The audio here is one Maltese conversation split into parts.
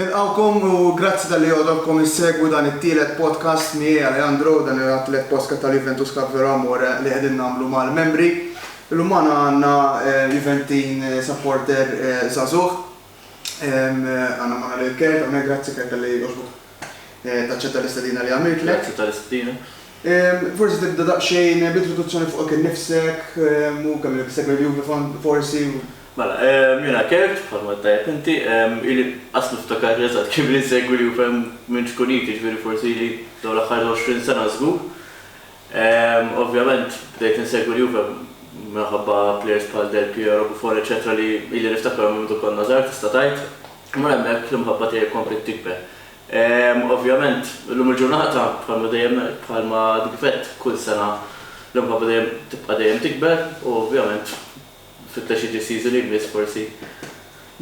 Nilqgħukom u grazzi talli għodokkom issegwu dan it-tielet podcast miegħi Alejandro, dan huwa t-tielet podcast tal-Juventus Cup Vero Amore li qegħdin nagħmlu mal-membri. Illum magħna għandna Juventin supporter żagħżugħ. Għandna magħna lil Kurt hawnhekk, grazzi Kurt talli għoġbok taċċetta l-istedina li għamiltlek. Grazzi tal-istedina. Forsi tibda daqsxejn b'introduzzjoni fuqek innifsek u kemm ilek issegwi l-Juve forsi u. Mela, jiena Kurt, bħalma għedt tajjeb inti. Ili qas niftakar eżatt kemm ili nsegwi li ufm minn xkun id, jiġifieri forsi ili dawn l-aħħar 20 sena żgur. Ovvjament bdejt insegwi li ufm minħabba plejers bħal Del Piero, Buffon eċċetera li ili niftakarhom minn mindu konna żgħar tista' tgħid. U minn hemmhekk l-imħabba tiegħi kompliet tikber. Ovvjament illum il-ġurnata bħalma dejjem ngħid, bħalma għad kif għedt kull sena l-imħabba dejjem tibqa' dejjem tikber u ovvjament, Tfittex jiġi s-season li jmiss forsi.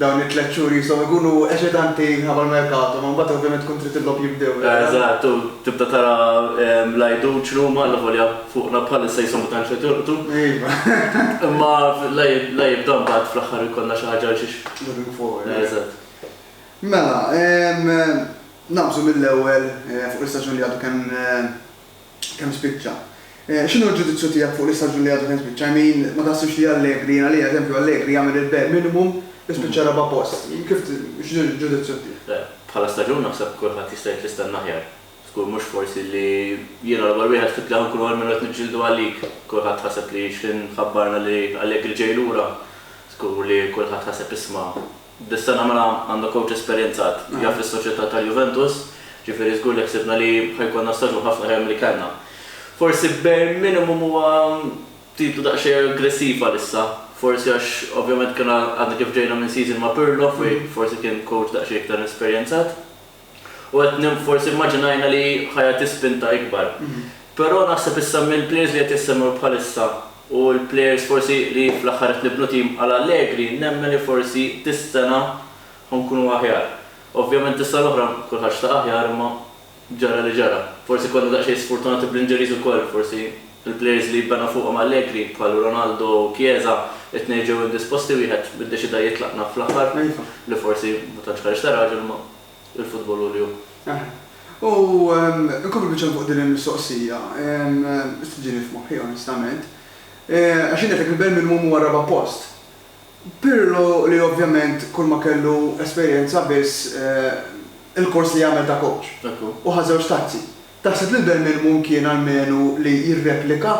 Dawn it-tliet xhur qishom ikunu eċitanti minħabba l-merkato, imma mbagħad ovvjament tkun trid il-logħob jibdew. Eżatt, u tibda tara l-għidut x'numa, allavolja fuqna bħalissa qishom ma tantx qed jolqtu. Iva. Imma la jibda mbagħad fl-aħħar ikollna xi ħaġa għal xiex. Looking forward. Eżatt. Mela, nagħmżu mill-ewwel fuq l-istaġun li għadu kemm. kemm spiċċa. X'inhu l-ġudizzju tiegħek fuq l-istaġun li għadu kemm spiċċa? I mean, ma taħsibx li Allegri, jien għalija eżempju Allegri jagħmel il-bare minimum biex spiċċa raba' post. Kif x'inhu l-ġudizzju tiegħek? Le, bħala staġun naħseb kulħadd jista' jgħid li stenna aħjar. Żgur mhux forsi li jiena l-ewwel wieħed fit tlieħ inkun almenu qed niġġieldu għalik. Kulħadd ħaseb li x'ħin ħabbarna li Allegri ġej lura. Żgur li kulħadd ħaseb isma' Dis-sena mela għandna kowċ esperjenzat, jaf lis-soċjetà tal-Juventus, ġifieri żgur li ħsibna li ħa jkollna staġun ħafna aħjar milli kellna. Forsi bare minimum huwa titlu daqsxejn aggressiv għalissa, forsi għax ovvjament kena għadna kif ġejna minn season ma' Pirlo fejn forsi kien kowċ daqsxejn iktar esperjenzat. U qed nim forsi immaġinajna li ħa jagħti spinta ikbar. Però naħseb issa mill-players li qed jissemmew bħalissa u l-players forsi li fl-aħħar qed nibnu tim għal Allegri nemmen li forsi dis-sena ħa nkunu aħjar. Ovvjament is-sena l-oħra kulħadd xtaq aħjar imma ġara li ġara. Forsi konna daqsxejn sfurtunati bl-injuries ukoll forsi. Il-plejers li jibbenha fuqhom Allegri, bħal Ronaldo u Chiesa, it-tnejn ġew indisposti, wieħed iddeċida jitlaq naf fl-aħħar, li forsi ma tantx ħareġ ta' raġel imma il-futbol hu li hu. Eħe. U nkompli biċċa fuq din il-mistoqsija, qed iġini f'moħħi onestament, għax jien għedtlek li Bermingham huwa r-raba' post. Pirlo li ovvjament kulma kellu esperjenza biss il-kors li għamel ta' coach. Hekk hu. U ħa żewġ tazzi. Taħseb li l-bare minimum kien almenu li jirreplika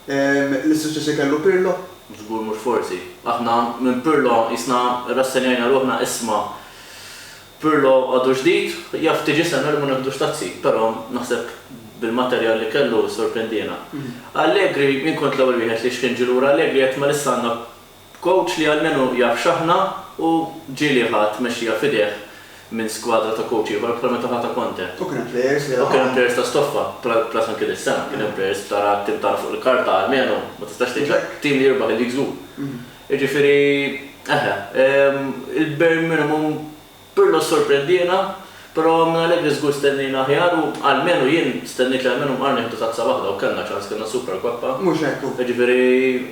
l-issuċċess li kellu Pirlo? Żgur mhux forsi. Aħna minn Pirlo qisna rrassenjajna ruħna isma' Pirlo għadu ġdid, jaf tiġi s-sena li ma neħdux tazzi, però naħseb bil-materjal li kellu sorprendiena. Allegri, jien kont l-ewwel wieħed li xħin ġie lura Allegri għedt ma lissa għandna B'kowċ li almenu jaf x'aħna u ġieli ħa t-tmexxija f'idejh minn skwadra ta' kowċ ieħor bħalma ta' ħa ta' Conte. U kien hemm plejers li laħaqu. U kien hemm plejers ta' stoffa, plus anki dis-sena kien hemm plejers b'tara tim tagħna fuq il-karta almenu ma tistax tgħid li tim li jirbaħ il-Leagues Hu. Jiġifieri eħe, il-bare minimum Pirlo ssorprendiena, però minn Allegri żgur stennejna aħjar u almenu jien stennejt li almenu mqar nieħdu tazza waħda u kellna ċans, kellna Super Coppa. Mhux hekk hu. Jiġifieri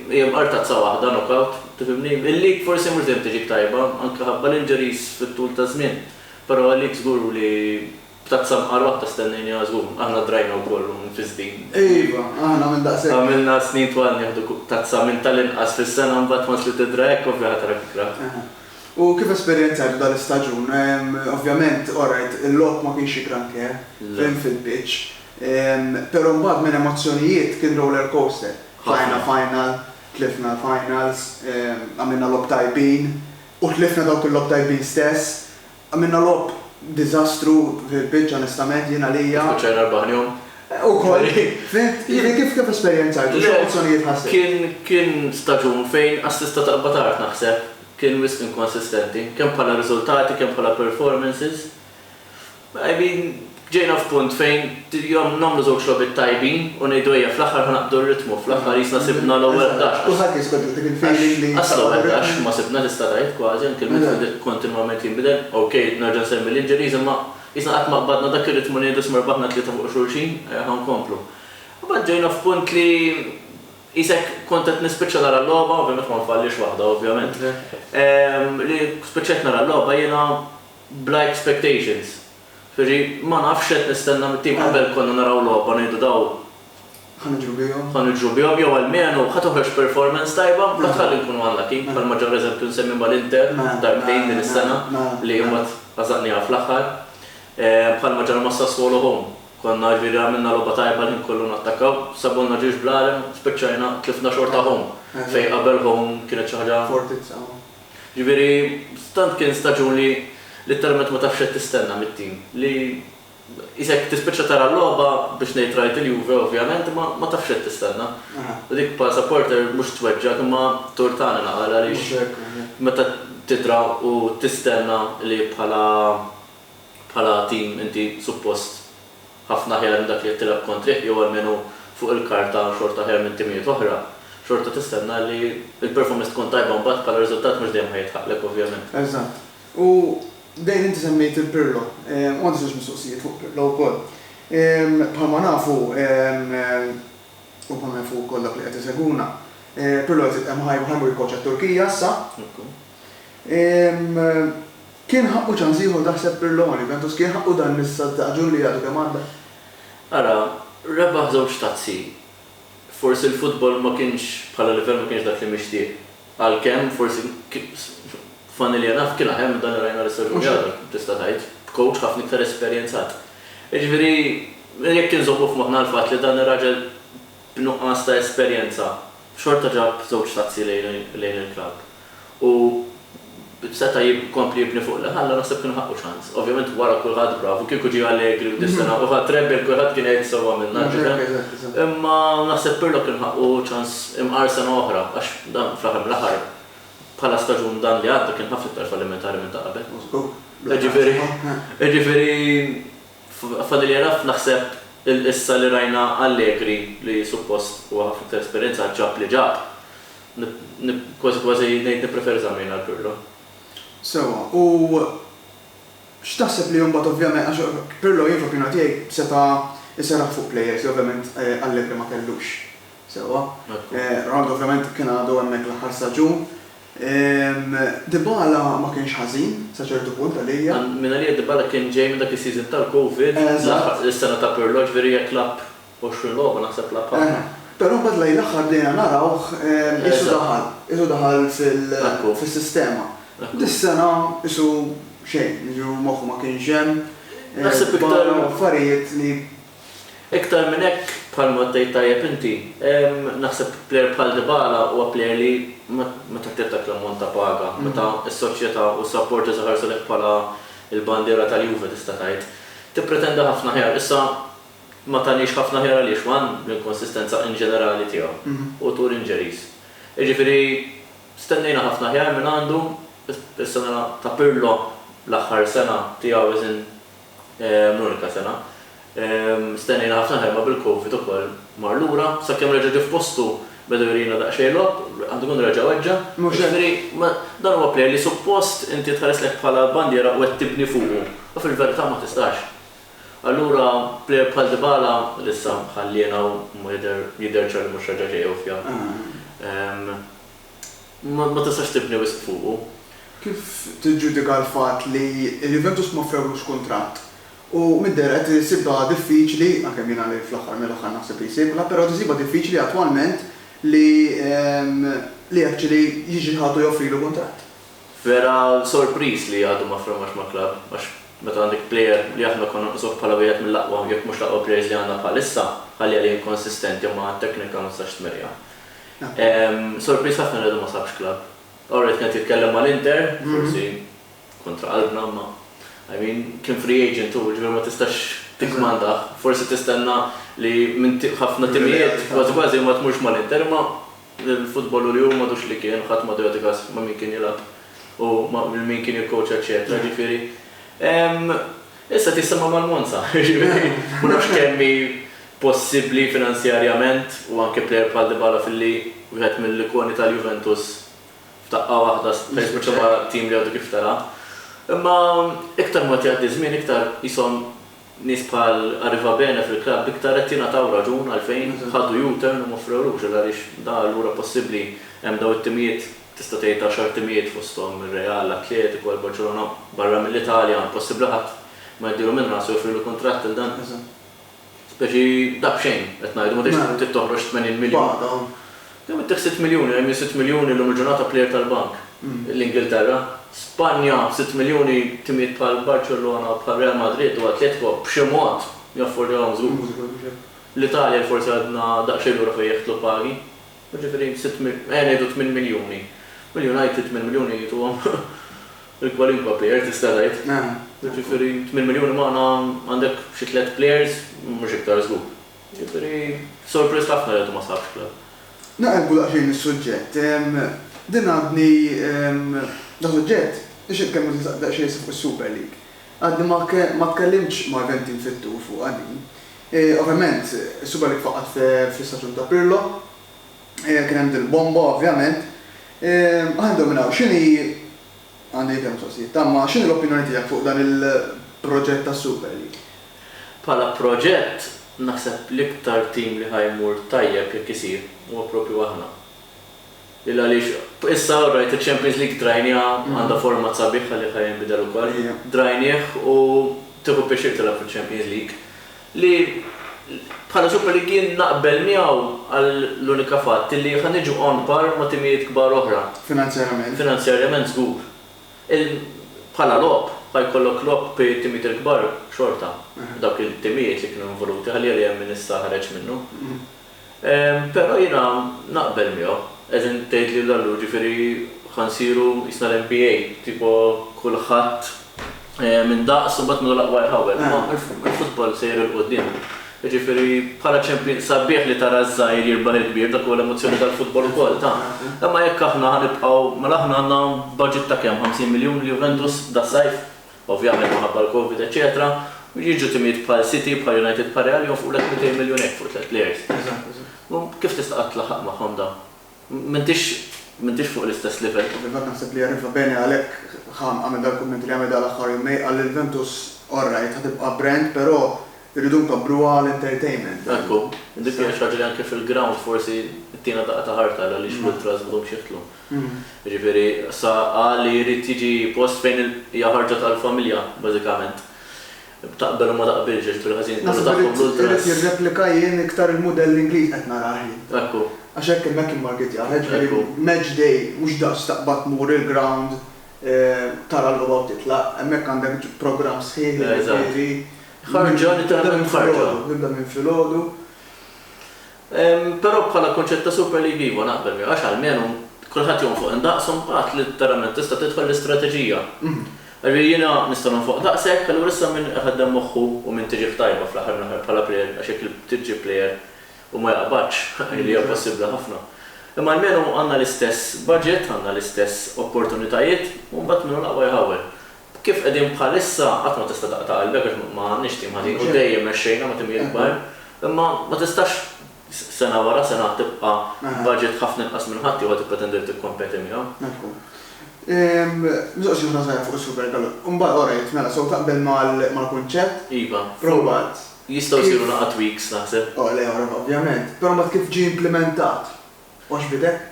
hija mqar tazza waħda, knockout, tifhimni? Il-League forsi mhux dejjem tiġik tajba, anke ħabba l-injuries fit-tul taż-żmien, però il-League żgur li Tazza mqar waħda stennejnieha żgur. Aħna drajna wkoll u mfisdin. Iva, aħna minn daqshekk. Għamilna snin twal nieħdu tazza minn tal-inqas fis-sena mbagħad once li tidra hekk ovvja ħa tarak ikra. U kif esperjenzajtu dal-istaġun? Ovvjament, orajt, il-logħob ma kienx xi granché, fim, fil-pitch. Però mbagħad minn emozzjonijiet kien roller coaster. Tlajna final, tlifna l-finals, għamilna logħob tajbin u tlifna dawk il-logħob tajbin stess. Għamilna logħob diżastru fil-pitch onestament jien għalija. Kif spiċċajna erba' ħnejhom? Ukoll. Fhimt? Jiġifieri kif kif esperjenzajtu? Le. X'opzjonijiet ħassibt? Kien kien staġun fejn għas tista' taqbad art naħseb. Kien wisq inkonsistenti. Kemm bħala riżultati kemm bħala performances. I mean. Ġejna f'punt fejn nagħmlu żewġ logħbiet tajbin u ngħidu ejja fl-aħħar ħa naqbdu r-ritmu, fl-aħħar qisna sibna l-ewwel ħdax. Kulħadd jiskont dik il-feeling li. Għax l-ewwel ħdax ma sibna tista' tgħid kważi anke l-midfield kontinwament jinbidel. Ok, nerġa' nsemmi l-injuries imma qisna qatt ma qbadna dak ir-ritmu li ngħidu isma' rbaħna tlieta fuq xulxin, ejja ħa nkomplu. Imbagħad ġejna f'punt li qisek kont qed nispiċċa nara l-logħba, ovvjament ma nfallix waħda ovvjament, li spiċċajt nara l-logħba jiena bla expectations. Ġifieri ma nafx x'qed nistenna mit-tim qabel konna naraw logħba ngħidu daw Ħa niġru bihom. ħa niġru bihom jew almenu ħa toħroġ performance tajba mbagħad tħalli nkunu unlucky bħalma ġara eżempju nsemmi mal-Inter darbtejn din is-sena li mbagħad għażaqniha fl-aħħar. Bħalma ġara ma' Sassuolo home konna ġifieri għamilna logħba tajba l-ħin kollu nattakkaw sabulna ġirx bl-għalem spiċċajna tlifna xorta home fejn qabel home kienet xi ħaġa Fortizza home. Jiġifieri tant kien staġun li litteralment ma tafx x'qed tistenna mit-tim. Li qisek tispiċċa tara l-logħba, biex ngħid rajt il-Juve ovvjament, imma ma tafx x'qed tistenna. U dik bħala supporter mhux tweġġgħek imma ttur tagħna naqal għaliex meta tidra u tistenna li bħala bħala tim inti suppost. ħafna aħjar minn dak li qed tilgħab kontrih jew almenu fuq il-karta xorta aħjar minn timijiet oħra, xorta tistenna li l-performance tkun tajba mbagħad bħala riżultat mhux dejjem ħa jilħaqlek ovvjament. Eżatt. U dejjem inti semmejt lil Pirlo, u għandi żewġ mistoqsijiet fuq Pirlo wkoll. Bħalma nafu u bħalma jafu wkoll dawk li qed isegwuna, Pirlo qed jitqemm ħa jmur jikkoċċa t-Turkija issa. Kien ħaqqu ċans ieħor taħseb Pirlo ma Juventus kien ħaqqu dan l-istaġun li għadu kemm għadda. Ara, rebaħ żewġ tazzi. Forsi l-futbol ma kienx, bħala livell ma kienx dak li mixtieq. Għalkemm, forsi, funnily enough, kien aħjar minn dan li rajna l-istaġun li għadu, tista' tgħid, b'coach ħafna iktar esperjenzat. Jiġifieri, jekk inżommu f'moħħna l-fatt li dan ir-raġel, b'nuqqas ta' esperjenza, xorta ġab żewġ tazzi lejn il-klabb u seta' jkompli jibni fuq li ħalla, naħseb kienu ħaqqu ċans. Ovvjament wara kulħadd bravu, kieku ġie Allegri u Dissena u ħa Treble kulħadd kien jgħid sewwa għamilna l-tifel. Imma naħseb Pirlo kien ħaqqu ċans imqar sena oħra għax dan fl-aħħar mill-aħħar bħala staġun dan li għadda kien ħafna iktar fallimentari minn ta' qabel. Ġifieri, ġifieri. Fadal jagħraf naħseb il-qissa li rajna Allegri li suppost huwa ħafna iktar esperjenzat ġab li ġab. Kważi kważi ngħid nippreferi Zammin għal Pirlo. Sewwa, u x'taħseb li mbagħad ovvjament għax Pirlo jien fl-opinjoni tiegħi seta' jserraħ fuq players li ovvjament Allegri ma kellux. Sewwa? Ronaldo ovvjament kien għadu hemmhekk l-aħħar staġun. Dybala ma kienx ħażin sa ċertu punt għalija. Mingħalija Dybala kien ġej minn dak is-season tal-Covid, l-aħħar is-sena ta' Pirlo, ġifieri jekk lagħab 20 logħba naħseb lagħab ħafna. Però mbagħad lejn l-aħħar bdejna narawh qisu daħal, qisu daħal fis-sistema. Dis-sena qisu xejn, jiġifieri moħħu ma kienx hemm, baqgħu affarijiet li Iktar minn hekk, bħalma għaddejt tajjeb inti, naħseb plejer bħal Dybala huwa plejer li ma taħtieġ dak l-ammont ta' paga meta s-soċjetà u s-supporters iħarsu lejh bħala l-bandiera tal-Juve tista' tgħid. Tippretenda ħafna aħjar. Issa, ma taniex ħafna aħjar għaliex, one, l-inkonsistenza inġenerali tiegħu, hu tur injuries. Jiġifieri, stennejna ħafna aħjar mingħandu, is-sena ta' Pirlo, l-aħħar sena tiegħu as in l-unika sena. Stennejna ħafna ħerba bil-Covid ukoll mar lura, sakemm reġa' ġie f'postu beda jurina daqsxejn logħob, għandu jkun reġa' weġġa', jiġifieri dan huwa plejer li suppost inti tħarislek bħala bandiera u qed tibni fuqu u fil-verità ma tistax. Allura plejer bħal Dybala li issa ħalliena u jidher ċar li mhux reġa' ġej Ewfja. ma tistax tibni wisq fuqu. Kif tiġġudika l-fatt li l-Juventus ma offrewlux kuntratt u mid-deher qed isibha diffiċli, għalkemm jiena li fl-aħħar mill-aħħar naħseb li jsibha, però qed isibha diffiċli attwalment li li actually jiġi ħadd u joffrilu kuntratt? Vera sorpriż li għadu ma ffirmax ma' club għax meta għandek player li aħna konna nqisuh bħala wieħed mill-aqwa jekk mhux l-aqwa players li għandna bħalissa, ħalli għalih inkonsistenti u ma' teknika ma tistax tmerrja. Sorpriż ħafna li għadu ma sabx klabb. Ora qed jitkellem mal-Inter, forsi kontra qalbna imma I mean, kien free agent hu, jiġifieri ma tistax tikkmandah. Forsi tistenna li minn ħafna timijiet, kważi kważi ma tmurx mal-Inter imma l-futbol hu li hu m'għadux li kien, ħadd m'għadu jagħti kas ma' min kien jilgħab u lil min kien jikkowċja eċċetera, jiġifieri. Issa qed jissemma' mal-Monza, jiġifieri ma nafx kemm hi possibbli finanzjarjament u anke plejer bħal Dybala filli wieħed mill-ikoni tal-Juventus f'daqqa waħda seta' jispiċċa ma' tim li għadu kif tela'. Imma iktar ma jgħaddi ż-żmien iktar qishom nies bħal Arrivabene fil-klabb iktar qed jingħataw raġun għalfejn ħadu U-turn u ma offrewlux għax għaliex da allura possibbli hemm dawn it-timijiet tista' tgħid għaxar timijiet fosthom ir-Real, l-Atletico, il-Barċelona barra mill-Italja possibbli ħadd ma jdilu minn rasu joffrilu kuntratt lil dan. Speċi daqsxejn, qed ngħidu, ma tridx trid toħroġ 80 miljun. Kemm ittieħ sitt miljuni, hemm min sitt miljuni llum il-ġurnata plejer tal-bank. L-Ingilterra, Spanja, sitt miljuni timijiet bħal Barċellona u bħal Real Madrid u Atletico b'xi mod jaffordjawhom żgur. L-Italja forsi għadna daqsxejn lura fejn jeħtlu pagi. Jiġifieri sitt mil, ejja ngħidu tmien miljuni. Mill-United tmien miljuni jituhom lil kwalinkwa plejer tista' tgħid. Jiġifieri tmien miljuni magħna għandek xi tliet plejers, mhux iktar żgur. Jiġifieri surprised ħafna li għadu ma sabx club. Naqilbu daqsxejn is-suġġett. Din għadni, dasuġġett biex inkemmu daqsxejn fuq is-Super League. Għadni ma tkellimtx ma' Ventin fit-tul fuqha din. Ovvjament, is-suba li tfaqqgħet fl-istaġun ta' Pirlo, kien hemm din il-bomba ovvjament. Ħa nibdew minn hawn, x'inhi, għandi ikel mistoqsijiet, tamma, x'inhi l-opinjoni tiegħek fuq dan il-proġett tas-Super League? Bħala proġett, naħseb l-iktar tim li ħa jmur tajjeb jekk isir, huwa proprju aħna. Lil għaliex issa orajt iċ-Champions League trajniha għandha format sabiħ għalih ħa jinbidel ukoll. Trajnih u tieħu pjaċir tilgħab fiċ-Champions League. Li bħala Super League jien naqbel miegħu għal l-unika fatt li ħa niġu on par ma' timijiet kbar oħra. Finanzjarjament. Finanzjarjament żgur. Il bħala logħob ħa jkollok logħob bi timijiet il-kbar xorta. Dawk il-timijiet li kienu involuti ħalli għalih hemm min issa ħareġ minnu. Però jiena naqbel miegħu. Qegħdin tgħidli l Allura ġifieri ħa nsiru qisna l NBA, tipo kulħadd minn daqs u mbagħad min hu l-aqwa jħawwel. Imma il-futbol sejjer 'il quddiem. Jiġifieri bħala champion, sabiħ li tara ż-żgħir jirbaħ il-kbir, dak huwa l-emozzjoni tal-futbol ukoll, ta. Imma jekk aħna ħa nibqgħu, mela aħna għandna budget ta' kemm, 50 miljun l-Juventus das-sajf? ovvjament minħabba l-Covid eċċetera, jiġu timijiet bħal City, bħal United bħal Real jonfqulek 200 miljun hekk fuq tliet players. Kif tista' qatt tlaħħaq magħhom dawn? M'intix m'intix fuq l-istess livell. Ovvjament naħseb li jagħrifha bene għalhekk Ham għamel dal-kumment li għamel dal-aħħar jumej, qal li l-Juventus all right ħa tibqa' brand però rridu nkabbruha għal entertainment. Ekku, dik hija xi ħaġa li anke fil-ground forsi ttina daqqa ta' ħarta għaliex l-ultras m'għadhomx jidħlu. Jiġifieri sa qal li jrid jiġi post fejn hija ħarġet għall-familja bażikament. Taqbel u ma taqbilx għax fil-ħażin kollu tagħhom l-ultras. Naħseb irid jirreplika jien iktar il-mudell Ingliż qed narah jien. Ekku. Għax hekk imma hekk immarketjah, jiġifieri match day mhux daqs taqbad tmur il-ground tara l-logħba u titlaq, hemmhekk għandek programm sħiħ jiġifieri. Eżatt. Ħarġa, tibda minn filgħodu. Tibda minn filgħodu. Però bħala kunċett ta' Super League iva, naqbel miegħu għax almenu kulħadd jonfoq indaqs u mbagħad letteralment tista' tidħol l-istrateġija. Jiġifieri jiena nista' nonfoq daqshekk, allura issa min iħaddem moħħu u min tiġih tajba fl-aħħar mill-aħħar bħala plejer għax jekk trid ġġib plejer u ma jaqbadx, li hija possibbli ħafna. Imma almenu għandna l-istess budget, għandna l-istess opportunitajiet u mbagħad min hu l-aqwa jħawwel. Kif qegħdin bħalissa qatt ma tista' taqta' qalbek għax ma għandniex tim ħażin u dejjem mexxejna ma' tim jikber. Imma ma tistax sena wara sena tibqa' b'budget ħafna inqas minn ħaddieħor u tippretendi li tikkompeti miegħu. Mifhum. Mistoqsija oħra żgħira fuq is-Super Gallo. Imbagħad orajt, mela sew taqbel mal-kunċett? Iva. Però mbagħad kif. Jistgħu jsiru laqgħat weeks naħseb. O le, ovvjament. Però mbagħad kif ġie implimentat? Mhux b'idek?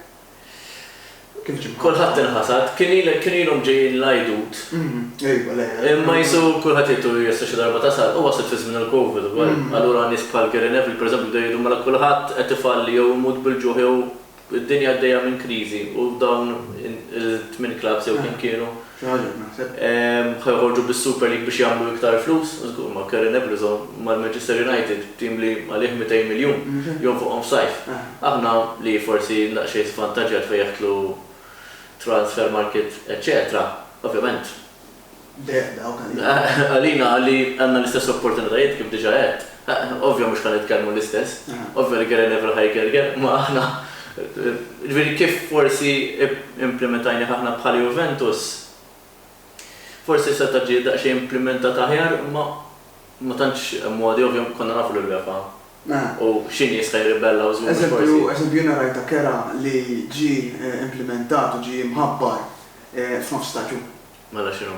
Kif ġibthom? Kulħadd inħasad. Kien ilek, kien ilhom ġejjin l-Għidut. Ejwa, le. Imma qisu kulħadd jgħid u jgħid sa xi darba tasal. U waslet fi żmien il-Covid ukoll. Allura nies bħal Gary Neville, pereżempju, bdew jgħidu mela kulħadd qed ifalli jew imut bil-ġuħ jew id-dinja għaddejja minn kriżi u dawn it-tmien klabbs jew kemm kienu, Xi ħaġa qed naħseb. Ħa joħorġu bis-Super League biex jagħmlu iktar flus? Żgur, ma' Karen Ebblezo, mal-Manchester United, tim li għalih 200 miljun, jonfoqhom f'sajf. Aħna, li forsi daqsxejn żvantaġġjat fejn jaqtlu transfer market eċċetera, ovvjament. Deheb dawk għalina. Għalina li għandna l-istess opportunitajiet kif diġà għedt. Ovvja mhux ħa nitkellmu l-istess. Ovvja li Gere Nevra ħa jger Ger, imma aħna, ġifieri kif forsi implimetajnieh aħna bħala Juventus, forsi seta' ġie daqsxejn implimentat aħjar, imma ma tantx hemm modi, ovvja konna nafu li l-UEFA u xi nies ħa jirribellaw żgur mhux forsi. Eżempju, eżempju jiena rajt ta' Kera li ġie implimentat u ġie mħabbar f'nofs staġun. Mela x'inhu?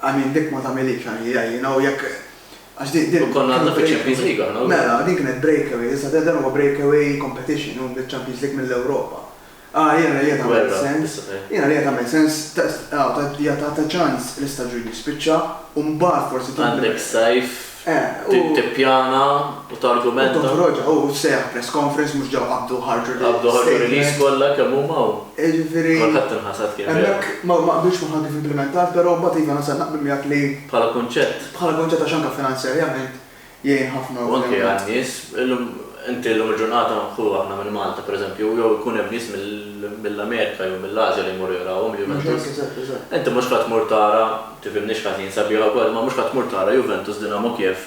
I mean dik ma tagħmilhiex għal EA, you know, jekk għax din din. U konna għadna fiċ-Champions League aħna wkoll. Mela, din kienet breakaway, issa dan huwa breakaway competition, hu mill-Champions League mill-Ewropa. Ah, jiena li qed tagħmel sens, jiena li qed tagħmel sens, jagħtha ċans l-istaġun jispiċċa u mbagħad forsi. Għandek sajf Tippjana u targumenta. U toħroġha, u ssejjaħ press conference mhux ġew qabdu u ħarġu release. Qabdu u ħarġu release kollha kemm huma u. Jiġifieri. Kulħadd inħasad kien vera. Hemmhekk ma qbiltx magħha kif implimentat, però mbagħad iva nasal naqbel miegħek li. Bħala kunċett. Bħala kunċett għax anke finanzjarjament jgħin ħafna ovvjament. U anke għan-nies. Illum, inti llum il-ġurnata, ħu aħna minn Malta pereżempju, jew ikun hemm nies mill-Amerika jew mill-Ażja li jmorru jarawhom il-Juventus. Mhux hekk, eżatt, eżatt. Inti mhux ħa tmur tara. Tifhimnix ħażin, sabiħa wkoll imma mhux ħa tmur tara Juventus Dinamo Kiev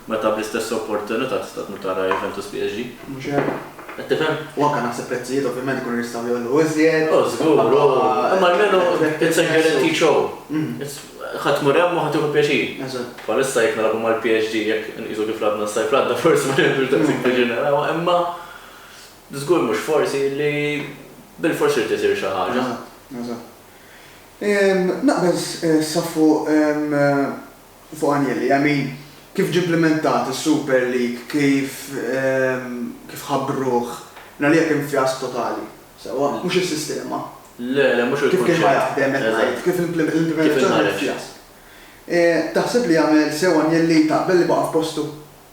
meta bl-istess opportunità tista' tmur tara Juventus PSG. Mhux hekk. Qed tifhem? U anke naħseb prezzijiet ovvjament ikunu jistgħu jgħollu iżjed. O żgur, u imma almenu it's a guaranteed show. Ħa tmur hemm u ħa tieħu pjaċir. Eżatt. Bħalissa jekk nilagħbu mal-PSG jekk inqisu kif lagħbna s-sajf li għadda forsi ma nirrexxux daqshekk pjaċir narawha imma żgur mhux forsi li bilfors irid isir xi ħaġa. Eżatt, eżatt. Naqbel sa fuq fuq Agnelli, I mean, kif ġie implimentat is-Super League, kif kif ħabbruh, jien għalija kien fjask totali. Sewwa, mhux is-sistema. Le, le, mhux il-kunċett. Kif kien ħa jaħdem qed ngħid, kif l-implimentazzjoni kienet fjask. Taħseb li għamel sew Agnelli, taqbel li baqa' f'postu?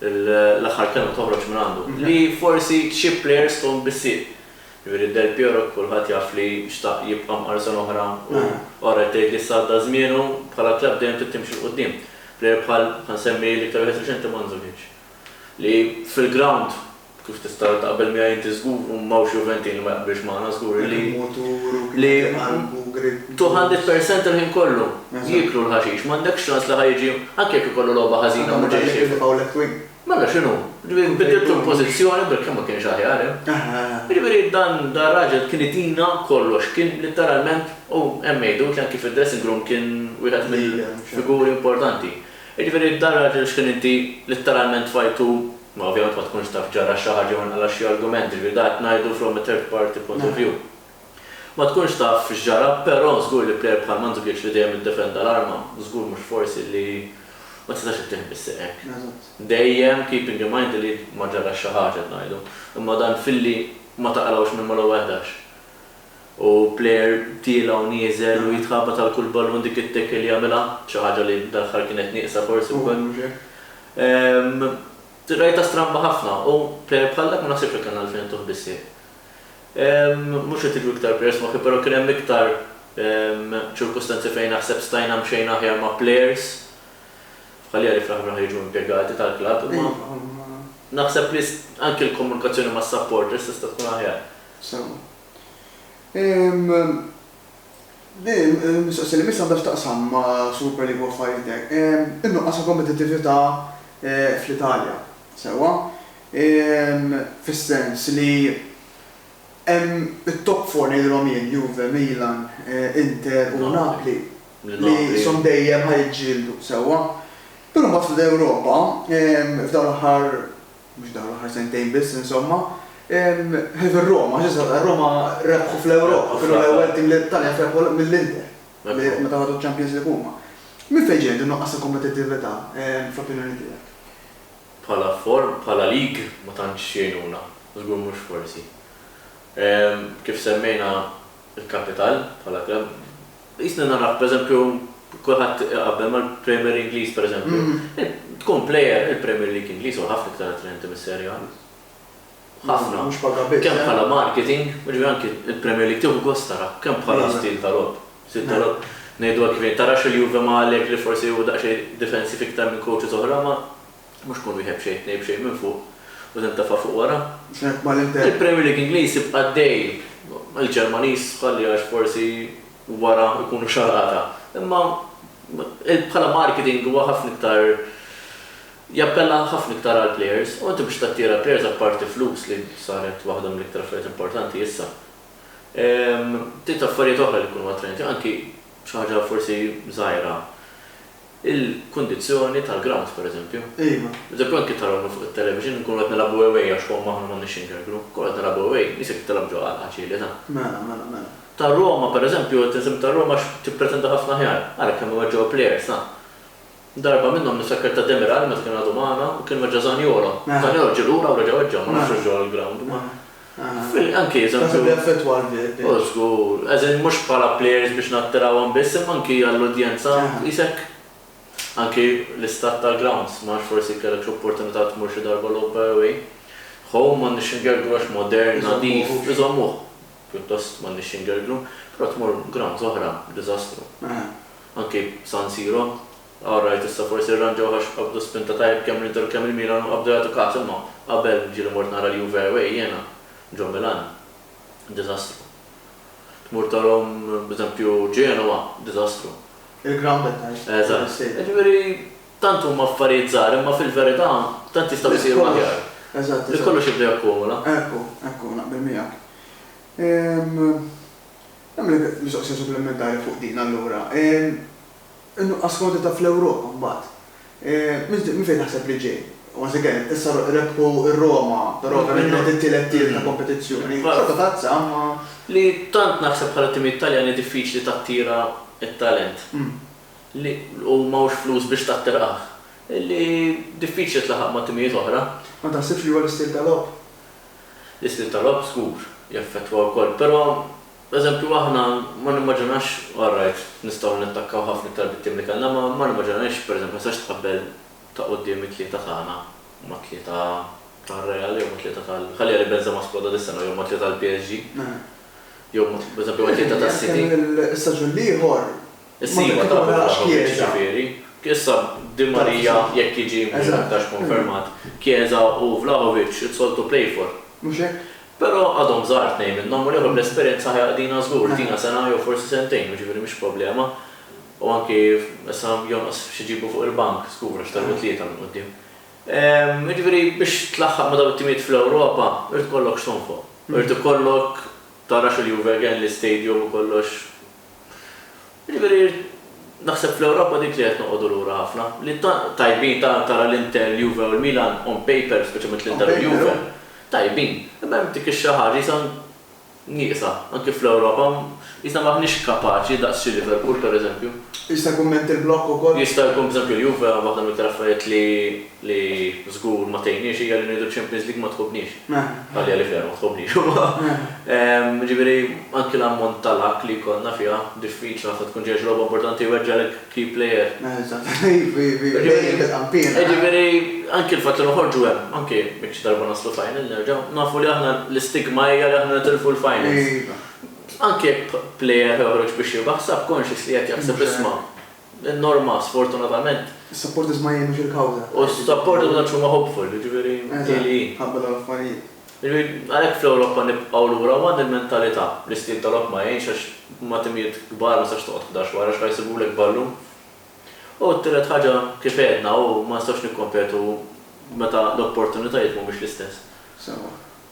l-aħħar kelma toħroġ minn għandu, li forsi xi plejers fihom bissieq. Jiġifieri Del Piero kulħadd jaf li xtaq jibqa' mqar sena oħra u ora qed tgħid li issa għadda żmienu, bħala klabb dejjem trid timxi 'l quddiem. Plejer bħal, ħa nsemmi l-iktar wieħed riċenti Mandzukic, li fil-grawnd Kif tista' taqbel miegħi inti żgur u m'hawnx Juventin li ma jaqbilx magħna żgur li li tu ħandet persent il-ħin kollu. Jieklu l-ħaxix. M'għandekx ċans li ħa jiġi anke jekk ikollu logħba ħażina mhu ġej x'jiekol. Mela x'inhu? Ġifieri bidiltu l-pożizzjoni bilkemm ma kienx aħjar hemm. Jiġifieri dan dan raġel kien itina kollox, kien litteralment u hemm jgħidut li anke fid-dressing room kien wieħed mill-figuri importanti. Jiġifieri dan raġel x'kien inti litteralment tfajtu, ma ovvjament ma tkunx taf ġara xi ħaġa jew inqala' xi argument, jiġifieri dan qed ngħidu from a third party point of view. Ma tkunx taf x'ġara, però żgur li plejer bħal Mandzukic li dejjem iddefenda l-arma, żgur mhux forsi li ma tistax ittieħ bis-sieq hekk. Dejjem keeping in mind li ma ġarax xi ħaġa qed ngħidu. Imma dan filli ma taqlgħux minn mal-ewwel ħdax. u player tiela' u nieżel u jitħabbat għal kull ballun dik it-tackle jagħmilha, xi ħaġa li dal-aħħar kienet nieqsa forsi wkoll. Rajtha stramba ħafna u player bħal dak ma naħsibx li kellna għalfejn intuh bis-sieq. Mhux qed jiġu iktar players f'moħħi però kien hemm iktar ċirkustanzi fejn naħseb stajna mxejna aħjar ma' players bħalija li fl-aħħar mill-aħħar jiġu impjegati tal-klabb imma naħseb li anki l-komunikazzjoni mas-supporters tista' tkun aħjar. Sewwa. Ehm, din il-mistoqsija li jmiss għandha x'taqsam ma' Super League u affarijiet hekk. Ehm, in-nuqqas ta' kompetittività fl-Italja. Sewwa. Ehm, fis-sens li hemm it-top four ngħidilhom jien, Juve, Milan, Inter u Napli, li qishom dejjem ħa jiġġieldu. Sewwa. Però mbagħad fl-Ewropa, ehm, f'dawn l-aħħar mhux dawn l-aħħar sentejn biss insomma, ħlief ir-Roma, għax issa r-Roma rebħu fl-Ewropa, kienu l-ewwel tim li t-Taljan rebħu mill-Inter, meta ħadu ċ-Champions League huma. Minn fejn ġej din nuqqas ta' kompetittività fl-opinjoni tiegħek? Bħala form, bħala lig ma tantx jgħinuna, żgur mhux forsi. Kif semmejna l-kapital bħala klabb, Qisni narah pereżempju kulħadd iqabbel mal-Premier Ingliż pereżempju. Tkun plejer, il-Premier League Ingliż huwa ħafna iktar attraenti mis-Serie A. Ħafna. Mhux paga biss. Kemm bħala marketing, jiġifieri anki il-Premier League tieħu gost tarah, kemm bħala stil ta' logħob. Stil ta' logħob ngħidu hekk jiġifieri tarax il-Juve ma' Allegri forsi hu daqsxejn difensiv iktar minn coaches oħra ma' Mhux kun wieħed b'xejn tnejn b'xejn minn fuq u tintefa' fuq wara. Hekk ma l-Inter. Il-Premier League Ingliż jibqa' għaddej. Il-Ġermaniż ħalli għax forsi wara jkunu xarata. Imma bħala marketing huwa ħafna iktar jappella ħafna iktar għall-plejers u inti biex tattira l-plejers apparti flus li saret waħda mill-iktar affarijiet importanti issa. Trid affarijiet oħra li jkunu attrajenti anki xi ħaġa forsi żgħira. Il-kundizzjoni tal-grounds, pereżempju. Iva. Eżempju, hawn kif tarawna fuq it-television, inkunu qed nilagħbu away għax Roma aħna m'għandniex xi nkerkru. Inkunu qed nilagħbu away, nies hekk tilgħab ġo għalqa ċilita. Mela, mela, mela. Ta' Roma, pereżempju, qed insemmi ta' Roma għax tippretenda ħafna aħjar. Ara kemm weġġgħu l-plejers, ha! Darba minnhom niftakar ta' Demiral meta kien għadu magħna u kien weġġa' Zaniolo. Zaniolo ġie lura u reġa' weġġa', ma nafx hux ġo għall-ground, imma. Naħseb li jaffettwa l-bench. O żgur. As in mhux bħala players biex nattirawhom biss imma anki għall-udjenza qisek anki l-istat tal-grounds. Ma nafx forsi kellekx opportunità tmur xi darba logħob by away. Home m'għandniex x'ingerglu għax modern, nadif, iżommuh pjuttost m'għandniex x'ingerglu. Però tmur grounds oħra, diżastru. Anki San Siro. All right issa forsi rranġawh għax qabdu spinta tajjeb kemm l-Inter u kemm il-Milan u qabdu jagħtu każ imma qabel ġieli mort nara l-Juve away jiena ġo Milan diżastru. Tmur tarahom b'eżempju Genoa diżastru. Il-ground qed ngħid, mhux l-istadium. Eżatt. Jiġifieri tant huma affarijiet żgħar imma fil-verità tant jistgħu jsiru aħjar. Eżatt, eżatt. Li kollox jibda jakkumula. Ekku, ekku, naqbel miegħek. Nagħmlek mistoqsija supplimentari fuq din allura. In-nuqqas f'kwantità fl-Ewropa mbagħad. Minn fejn taħseb li ġej? Once again, issa rebħu r-Roma, però ovvjament kienet it-tielet tim ta' kompetizzjoni. Xorta tazza, imma. Li tant naħseb bħala timijiet Taljani diffiċli tattira t-talent. Li u m'hawnx flus biex tattirah. Li diffiċli tlaħaq ma' timijiet oħra. Ma taħsibx li huwa l-istil ta' logħob? L-istil ta' logħob żgur jaffettwa wkoll, però Pereżempju, aħna ma nimmaġinax, alright, nistgħu nattakkaw ħafna iktar bit-tim li kellna, imma ma nimmaġinajx, pereżempju, ma tistax tqabbel ta' quddiem it-tlieta tagħna mat-tlieta tar-Real jew mat-tlieta tal-, ħalli għalih Benzema skwodra dis-sena, jew mat-tlieta tal-PSG, jew, pereżempju, mat-tlieta tas-City. Issa ġu l-ieħor. Is-siwa ta' Abramovich, jiġifieri, issa Di Maria jekk jiġi mhux aktarx konfermat, Chiesa u Vlahovic, it's all to play for. Mhux hekk? Però għadhom żgħar tnejn minnhom u l-ieħor bl-esperjenza ħa jaqdina żgur, tina sena jew forsi sentejn, u jiġifieri mhix problema. U anki issa jonqos xi jġibu fuq il-bank żgur għax telgħu tlieta minn quddiem. Jiġifieri biex tlaħħaq ma' dawn it-timijiet fl-Ewropa irid ikollok x'tonfoq. Irid ikollok tara x'il-Juve kelli stadium u kollox. Jiġifieri, naħseb fl-Ewropa dik li qed noqogħdu lura ħafna, li tant tajbin ta' tara l-Inter, l-Juve u l-Milan on paper, speċjalment l-Inter u l-Juve, tajbin, imma hemm dik ix-xi ħaġa qisha nieqsa, anki fl-Ewropa, qisna m'aħniex kapaċi daqs xi Liverpool, pereżempju. Jista' jkun mental block ukoll? Jista' jkun, pereżempju l-Juve waħda mill-iktar affarijiet li li żgur ma tgħinniex hija li ngħidu ċ-Champions League ma tħobbniex. Għalija li fiha ma tħobbniex huwa. Jiġifieri anki l-ammont ta' luck li jkollna fiha diffiċli ħafna tkun ġejja xi logħba importanti jweġġagħlek key player. Jiġifieri anki l-fatt li noħorġu hemm, anki jekk xi darba naslu final nerġgħu, nafu li aħna l-istigma hija li aħna nitilfu l-finals. Anki jekk player ħa joħroġ biex jirbaħ subconsciously qed jaħseb isma', In-norma, sfortunatament. Is-supporters ma jgħinux il-kawża. U s-supporters ma tantx huma hopeful, jiġifieri hi li hi. Eżatt, ħabba dawn l-affarijiet. Jiġifieri, għalhekk fl-Ewropa nibqgħu lura u għandna l-mentalità. L-istil ta' logħob ma jgħinx għax ma' timijiet kbar ma tistax toqgħod ħdax wara x'ħa jsibulek ballun. U t-tielet ħaġa, kif għedna, hu ma nistgħux nikkompetu meta l-opportunitajiet mhumiex l-istess. Sewwa.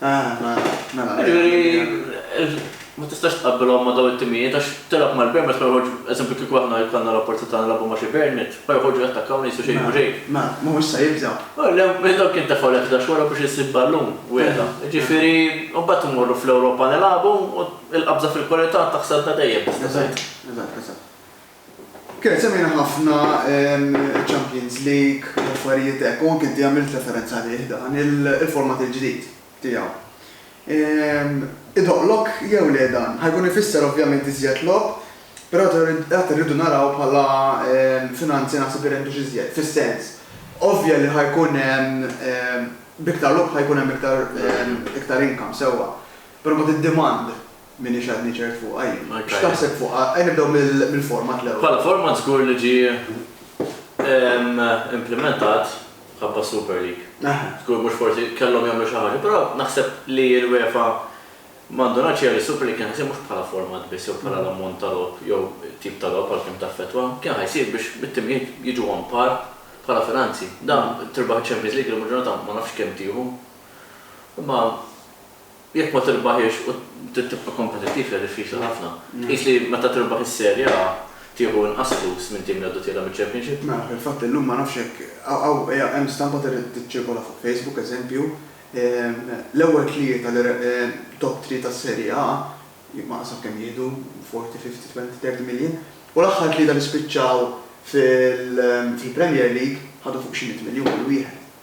Ah, ma, mela. Jiġifieri, ma tistax tqabbilhom ma' dawn it-timijiet għax tilgħab mal-Burnmouth ma joħorġu, eżempju kieku aħna jkollna l-opportunità nilagħbu ma' xi Burnmouth, ma joħorġu jattakkaw u ngħisu xejn u xejn. Ma, ma, mhumiex se jibżgħu. Oh, le, meta dawn kien tefgħu lek ħdax wara biex issib ballun, wegħda. Jiġifieri, u mbagħad immorru fl-Ewropa nilagħbu u l-qabża fil-kwalità taħsad la dejjem tista' tgħid. Eżatt, eżatt, eżatt. Kienet semmejna ħafna iċ-Champions League u affarijiet hekk u anke inti għamilt referenza għalih dan il-format il-ġdid tiegħu. Idoqqlok jew le dan? Ħa jkun ifisser ovvjament iżjed logħob, però għad irridu naraw bħala finanzi naħseb irendu x'iżjed, fis-sens, ovvja li ħa jkun hemm b'iktar logħob ħa jkun hemm iktar iktar income sewwa, però mbagħad id-demand M'iniex għadni ċert fuqha jien. X'taħseb fuqha? Ejja nibdew mill-format l-ewwel. Bħala format żgur li ġie implimentat mħabba s-Super League. Żgur mhux forsi kellhom jagħmlu xi ħaġa, però naħseb li l-UEFA ma ndunatx hija li s-Super League kien ħa jsir mhux bħala format biss jew bħala l-ammont ta' logħob jew it-tip ta' logħob għalkemm taffettwa, kien ħa jsir biex it-timijiet jiġu on par bħala finanzi. Dan tirbaħ iċ-Champions League illum il-ġurnata ma nafx kemm tieħu, imma Jekk ma tirbaħhiex u trid tibqa' kompetittiv hija diffiċli ħafna. Tqis li meta tirbaħ is-Serie A tieħu inqas flus minn tim li għadu tiela' miċ-Championship? Mela, fil-fatt illum ma nafx jekk hawn hemm stampa tiċċirkola fuq Facebook, eżempju, l-ewwel tlieta li top three tas-Serie A ma qasam kemm jieħdu, forty, fifty, twenty, thirty million, u l-aħħar tlieta li spiċċaw fil-Premier League ħadu fuq xi mitt miljun kull wieħed.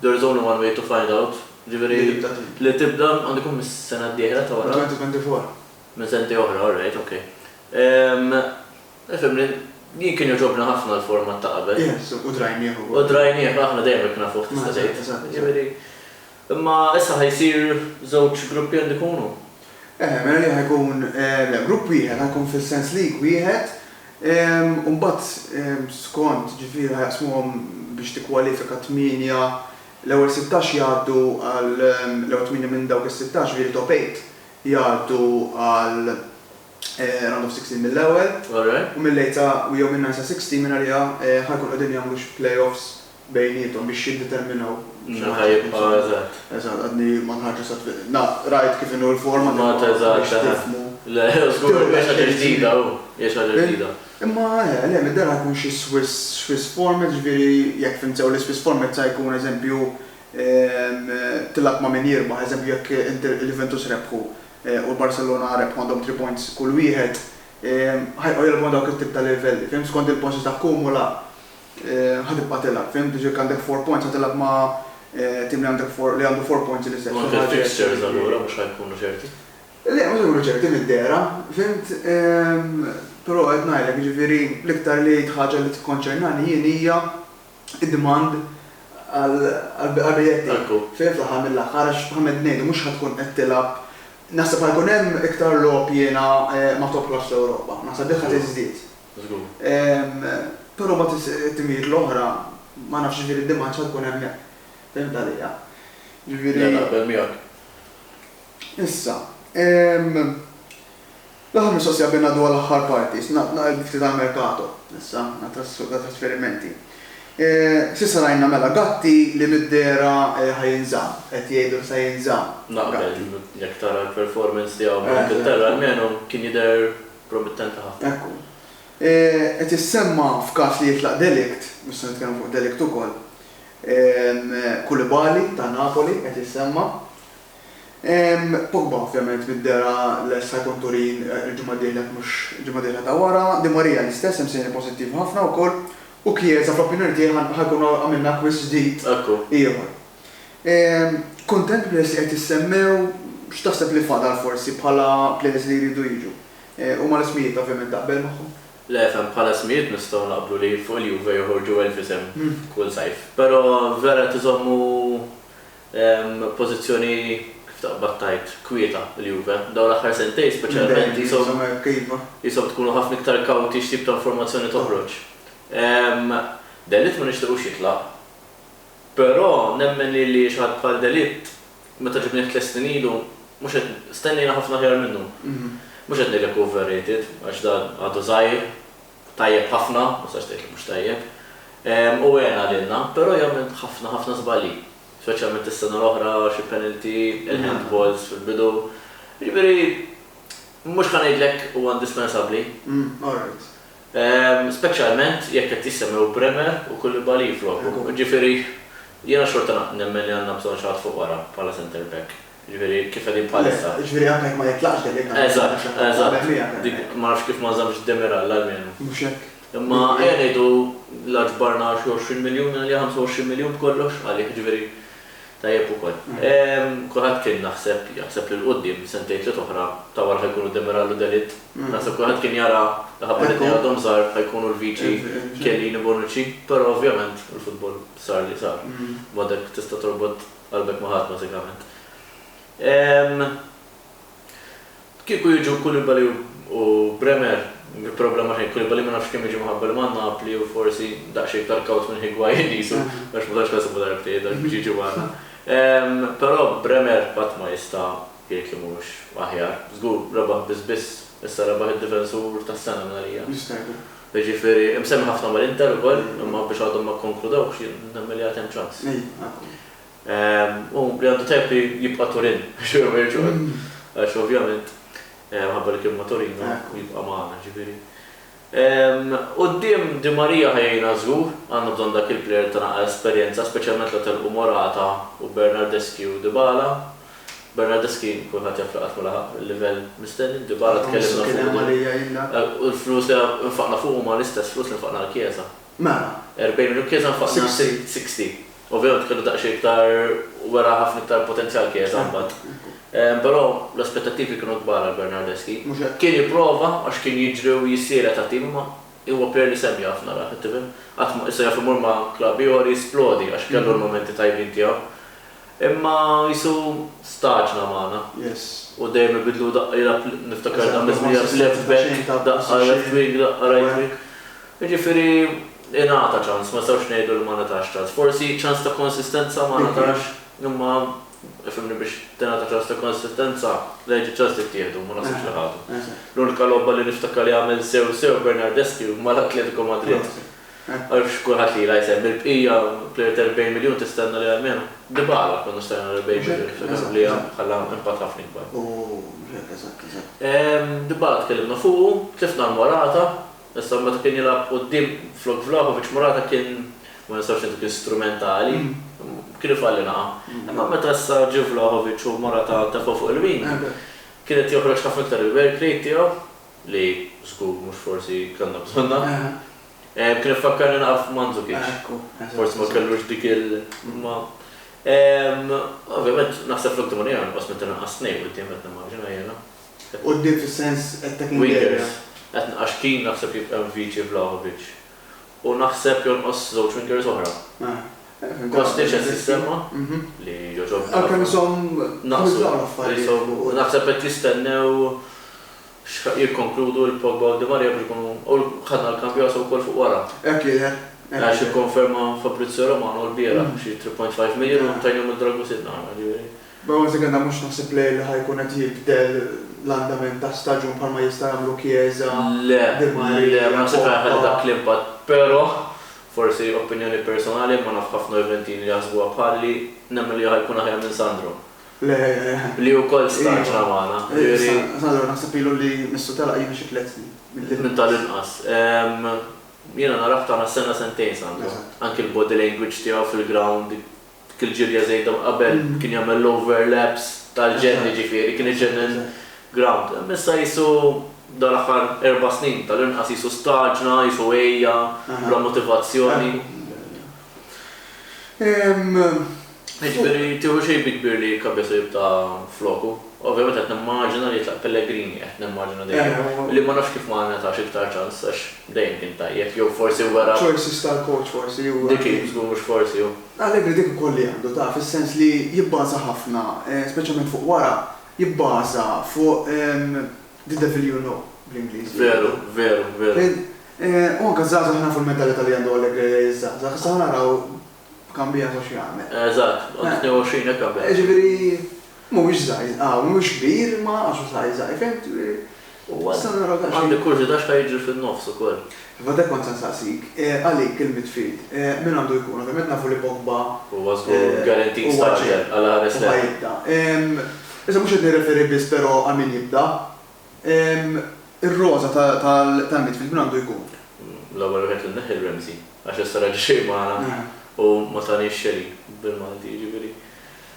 There is only one way to find out, ġifieri li tibda, għandu jkun mis-sena d-dieħla ta' wara? 2024. Minn sentejn oħra, all right, ok. Fehimni, jien kien jogħġobni ħafna l-format ta' qabel. Yes, u drajnieh ukoll. U drajnieh, aħna dejjem hekk nafuh tista' tgħid. Eżatt, eżatt. Imma issa ħa jsir żewġ gruppi għandu jkunu? Eħe, mela li ħajkun, le, grupp wieħed ħajkun fis-sens league wieħed u mbagħad skont, ġifieri ħajaqsmuhom biex tikkwalifika tmienja, l-ewwel sittax jgħaddu għal, l-ewwel tmienja minn dawk is-sittax, ġifieri top eight, jgħaddu għal round of sixteen mill-ewwel u mill-eight sa, jew minn nine sa sixteen minn għaliha ħajkunu qegħdin jagħmlu xi play-offs bejniethom biex jiddeterminaw xi ħaġa kif inhu. Meta jibqa', eżatt. Eżatt, għadni ma nħarġ sa tliet. Na, rajt kif inhu l-format imma biex tifhmu. Le, żgur, hija xi ħaġa ġdida, hu, hija xi ħaġa ġdida. Imma, eħe, le, mid-dehra ħa jkun xi Swiss, Swiss format, jiġifieri, jekk fhimt sew, l-iSwiss format sa jkun, eżempju, tilgħab ma' min jirbaħ, eżempju, jekk Inter, il-Juventus rebħu u l-Barcellona rebħu għandhom three points kull wieħed, ħa jibqgħu jilgħbu ma' dawk it-tip ta' livelli, fhimt, skond il-points li takkumulah. Ħa tibqa' tilgħab, fimt, biex jekk għandek four points ħa tilgħab ma' tim li għandek four, li għandu four points l-istess. U anke l-fixtures allura mhux ħa jkunu ċerti? Le, mhux ħa jkunu ċerti mid-dehra, fimt, però qed ngħidlek, jiġifieri l-iktar li ħaġa li tikkonċernani jien hija d-demand għall-biljett tiegħi. Ekku. Fimt, fl-aħħar mill-aħħar, għax bħalma qed ngħidu mhux ħa tkun qed tilgħab, naħseb ħa jkun hemm iktar logħob jiena ma' top class fl-Ewropa, naħseb dik ħa tiżdied. Żgur. Però mbagħad it-timijiet l-oħra ma nafx jiġifieri d-demand x'ha tkun hemmhekk. Fehimtha lejja? Jiġifieri. Le naqbel miegħek. Issa, l-aħħar mistoqsija qabel ngħaddu għall-aħħar parti, ngħid ftit għall-merkato issa, għat-trasferimenti. S'issa rajna mela Gatti li mid-dehra ħa jinżamm, qed jgħidu li sa jinżamm. Naqbel, jekk tara l-performance tiegħu mal-Ingilterra almenu kien jidher Promittenti ħafna. Ekku. Qed issemma f'każ li jitlaq delikt, mhux se nitkellmu fuq delikt ukoll, Koulibaly ta' Napoli qed jissemma. Pogba ovvjament mid-dehra lest ħa jkun Turin il-ġimgħa d-dieħla jekk mhux il-ġimgħa d-dieħla ta' wara. Di Maria l-istess hemm sinjali pożittivi ħafna wkoll. U Chiesa fl-opinjoni tiegħi ħa jkunu għamilna akkwist ġdid ieħor. Kuntent b'nies li qed jissemmew, x'taħseb li fadal forsi bħala players li jridu jiġu? Huma l-ismijiet ovvjament taqbel magħhom? Le fem, bħala ismijiet nistgħu naqblu li fuq il-Juve joħorġu elf isem kull sajf. Però vera qed iżommu pożizzjoni kif taqbad tgħid kwieta l-Juve. Dawn l-aħħar sentejn speċjalment qishom tkunu ħafna iktar kawti x'tip ta' informazzjoni toħroġ. De Ligt ma nixtiequx jitlaq. Però nemmen li li xaħat bħal Delitt, meta ġibnieh tliet snin ilu, mhux qed, stennejna ħafna aħjar minnu. Mhux qed ngħidlek overrated, għax dan għadu żgħir, tajjeb ħafna, ma tistax tgħid li mhux tajjeb, u għena lilna, però jagħmel ħafna ħafna żbalji, speċjalment is-sena l-oħra xi penalty, il-handballs fil-bidu, jiġifieri mhux ħa ngħidlek huwa indispensabbli. Speċjalment jekk qed jissemmew Bremer u Koulibaly flokhom. Jiġifieri jiena xorta nemmen li għandna bżonn xi ħadd fuq wara bħala centre back. Jiġifieri kif qegħdin bħalissa. Jiġifieri anke jekk ma jitlaqx Demiral. Eżatt, eżatt. Ma nafx kif ma nżammx Demiral almenu. Mhux hekk. Imma ejja ngħidu la ġbarna xi 20 miljun għalih, 25 miljun b'kollox għalih. Jiġifieri Tajjeb ukoll. Kulħadd kien naħseb jaħseb li 'l quddiem, sentejn tliet oħra, ta' wara ħa jkunu Demiral u Dellit. Naħseb kulħadd kien jara li ħabba li tnejn għadhom żgħar ħa jkunu l-viċi Chiellini, Bonucci, però ovvjament il-futbol sar li sar. B'mod hekk tista' torbot qalbek ma' ħadd bażikament. Kieku jiġu Koulibaly u Bremer, problema xejn, Koulibaly ma nafx kemm jiġi mħabba li ma' Napli u forsi daqsxejn iktar kawt minn Higuain qisu, għax ma tantx ħasiblu darbtejn hekk biex jiġi magħna. Però Bremer qatt ma jista' jgħid li mhux aħjar. Żgur rebaħ biss biss, issa rebaħ id-difensur tas-sena minn għalija. Jiġifieri imsemmi ħafna mal-Inter ukoll, imma biex għadhom ma kkonkludewx, jien nemmen li għad hemm ċans. u li għandu tajjeb li jibqa' Turin biex huwa ma jiġix ukoll, għax ovvjament minħabba li kien ma' Torino jibqa' magħna, ġifieri. Quddiem Di Maria ħa jgħinna żgur, għandna bżonn dak il-plejer ta' naqra esperjenza, speċjalment la telqu Morata u Bernardeschi u Dybala. Bernardeschi kulħadd jaf li qatt ma laħaq il-livell mistenni, b'Dybala tkellimna fuqu, u l-flus li nfaqna fuqu huma l-istess flus li nfaqna għall-Chiesa. Mela. Erbgħin minu Chiesa nfaqna Sixty. Sixty. Ovvjament kellu daqsxejn iktar wera ħafna iktar potenzjal Chiesa mbagħad. Però l-aspettattivi kienu kbar għal Bernardeschi. Mhux hekk? Kien jipprova għax kien jiġri u jissielet għat-tim imma huwa plejer li sehem jaf naraħ, qed tifhem? Qatt ma issa jaf imur ma' klabb ieħor jisplodi għax kellu l-mumenti tajbin tiegħu. Imma Ġesu' stagħġna magħna. U dejjem ibiddlu daqqa jilgħab l Niftakar da' miżmija f'Left Back, daqqa Left Wing, daqqa Right Wing. Jiġifieri ingħata ċans, ma nistgħux ngħidu li ma ngħatax ċans. Forsi ċans ta' konsistenza ma ngħatax, imma ifhimni biex tingħata ċans ta' konsistenza, lejn iċ-ċans tittieħdu, ma naħsibx li ħadu. L-unika logħba li niftakar li għamel sew sew Bernardeschi mal-Atletico Madrid. Għaliex kulħadd lilha jsemmi l-bqija, plejer ta' 40 miljun tistenna li almenu Dybala konna stajna nagħmlu 40 miljun, tiftakar li ħalla impatt ħafna ikbar. Dybala tkellimna fuqu, tlifna għal Morata, issa meta kien jilgħab quddiem flok Vlahovic Morata kien, ma nistgħux ngħidu kien strumentali, kien ifalli naqa'. Imma meta issa ġie Vlahovic u Morata tefgħu fuq il-wing, kien qed joħroġ ħafna iktar il-work rate tiegħu. li żgur mhux forsi kellna bżonnha. Kien ifakkarni naqaf f' Mandzukic. Forsi ma kellux dik il imma ovvjament naħseb fl-ultimu li jien inqos minn tal-inqas tnejn quddiem qed nimmaġina jiena. Quddiem fis-sens qed tgħid minn derriera? Wingers. Qed għax Keane naħseb jibqa' Mvici Vlahovic. u naħseb jonqos żewġ fingers oħra. Kostic qed jissemma, li jogħġobni ħafna. Għalkemm ishom naqsu dawn l-affarijiet. Naħseb qed jistennew jikkonkludu l-Pogba u Di Maria biex ikunu u ħadna l-kambju għal Sokol fuq wara. Hekk jidher. Għax ikkonferma Fabrizio Romano l-bieraħ xi 3.5 million u tajnihom lil Dragusin. B'Ronzi kellna mhux naħseb player li ħa jkun qed jibdel l-andament ta' staġun bħalma jista' jagħmlu Chiesa, Di Maria, Pogba. Le, le, ma naħsibx li ħa jħalli dak l-impatt. Però, forsi opinjoni personali, imma naf ħafna Juventini li jaħsbuha bħali, nemmen li hu ħa jkun aħjar minn Sandro. Le, le. Li wkoll staġna magħna. Ġifieri. Sandro naħseb ilu li missu telaq jiena xi tliet snin, minn tal-inqas. Minn tal-inqas. Jiena narah tagħna sena sentejn Sandro. Eżatt. Anki l-body language tiegħu fil-ground dik il-ġirja żejda qabel kien jagħmel l-overlaps tal-ġenn jiġifieri kien iġenn il-ground. Imma issa qisu dawn l-aħħar erba' snin tal-inqas qisu staġna, qisu għejja, bla motivazzjoni. Jiġifieri tieħu xejn bi kbir li Cabezzo jibqa' floku. Ovvjament qed nimmaġina li jitlaq Pellegrini, qed nimmaġina dejjem, li ma nafx kif ma ngħatax iktar ċans għax dejjem kien tajjeb jew forsi wera. Choices tal-coach forsi. Dik hi, żgur mhux forsi hu. L-Allegri dik ukoll li għandu, taf, is-sens li jibbaża ħafna, speċjalment fuq wara, jibbaża fuq the devil you know, bl-Ingliż. Veru, veru, veru. U anke ż-żgħażagħ nafu l-mentalità li għandu Allegri lejn iż-żgħażagħ, issa ħa naraw b'Cambiaso x'jagħmel. Eżatt, għandu 22 hekk qabel. Jiġifieri Mhuwiex żgħir hawn, mhux kbir imma għax hu saħħ żgħir, fimt? U nista' nara daqsxejn. Għandi kurżità x'ħa jiġri fin-nofs ukoll. Iva dak kont se nsaqsik, għalik il-midfield min għandu jkun? Ovvjament nafu li Pogba Huwa żgur guaranteed starter għal ħames snin. Huwa ċert u ħa jibda. Issa mhux qed nirreferi biss però għal min jibda. Ir-roża tal-midfield min għandu jkun? L-ewwel wieħed li nneħħi l-Ramsey għax issa reġa' xejn magħna u ma taniex xejn bil-Malti jiġifieri.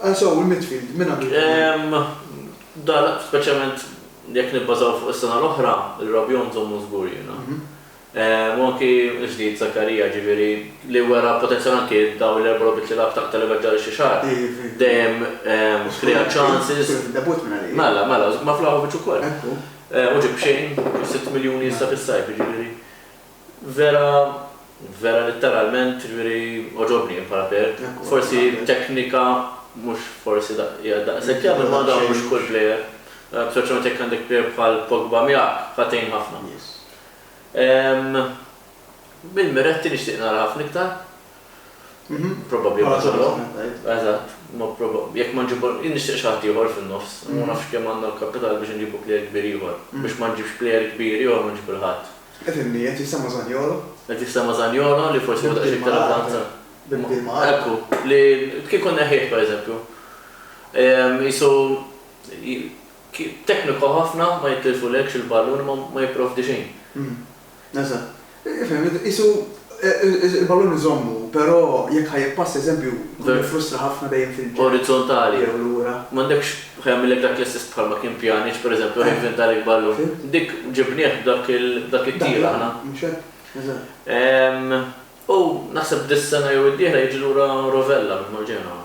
Ansow, il-midfield, min għandu jkun? Da, speċjalment jekk nibbażaw fuq is-sena l-oħra, il-Rabiot nżommu żgur jiena. U anki l-ġdid Zakaria, ġifieri, li wera potenzjal anki dawn l-erba' logħbiet li lagħab ta' livell ġara xi xahar, dejjem krea ċansis. Żgur kien debut minn għalih. Mela, mela, ma' Vlahovic ukoll. U ġieb b'xejn, ġieb sitt miljuni issa fis-sajf, jiġifieri. Vera, vera litteralment, jiġifieri għoġobni jien bħala plejer. Forsi teknika mhux forsi daqs, hija daqshekk jaf imma dan mhux kull plejer. Speċjalment jekk għandek plejer bħal Pogba miegħek, ħa tgħin ħafna. Mill-Miretti nixtieq nara ħafna iktar. Probabli ma nagħmlu. Eżatt. Jekk ma nġibu, jien nixtieq xi ħadd ieħor fin-nofs. Ma nafx kemm għandna l-kapital biex inġibu plejer kbir ieħor. Biex ma nġibx plejer kbir ieħor ma nġib il-ħadd. Qed inni, qed jissemma' Zaniolo. Qed jissemma' Zaniolo li forsi jieħu daqsxejn iktar avvanza. Bibdil ma' Arthur. Ekku, li kieku nneħħieh pereżempju, qisu tekniku ħafna, ma jitlifulekx il-ballun, ma jipprovdi xejn. Eżatt. Qisu Il-ballun iżommu, però jekk ħa jippass eżempju jkun jiffrustra ħafna dejjem fil-ġenb. Orizzontali. Jew lura. M'għandekx, ħa jagħmillek dak l-istess bħalma kien Pjaniċ, per eżempju, ħa jivvinta għalik ballun. Fimt. Dik ġibnieh b'dak b'dak it-tir aħna. Mhux hekk? Eżatt. Ehm, u naħseb dis-sena jew id-dieħla jiġi lura Rovella minn Marġenova.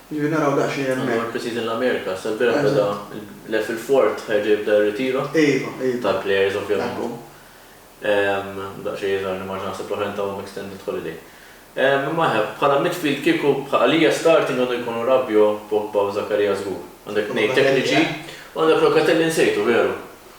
Jiġifieri naraw daqsxejn hemmhekk. Għandu għal pre-season l-Amerika, sa l-bieraħ beda l-lef il-fort, ħa jerġa' jibda r-ritiro. Iva, iva. Tal-players ovvjament. Daqsxejn jidhirli ma nafx naħseb l-oħrajn tawhom extended holiday. Imma eħe, bħala midfield kieku għalija starting għandu jkunu Rabiot, Pogba u Zakaria żgur. Għandek tnejn tekniċi u għandek Locatelli nsejtu, veru.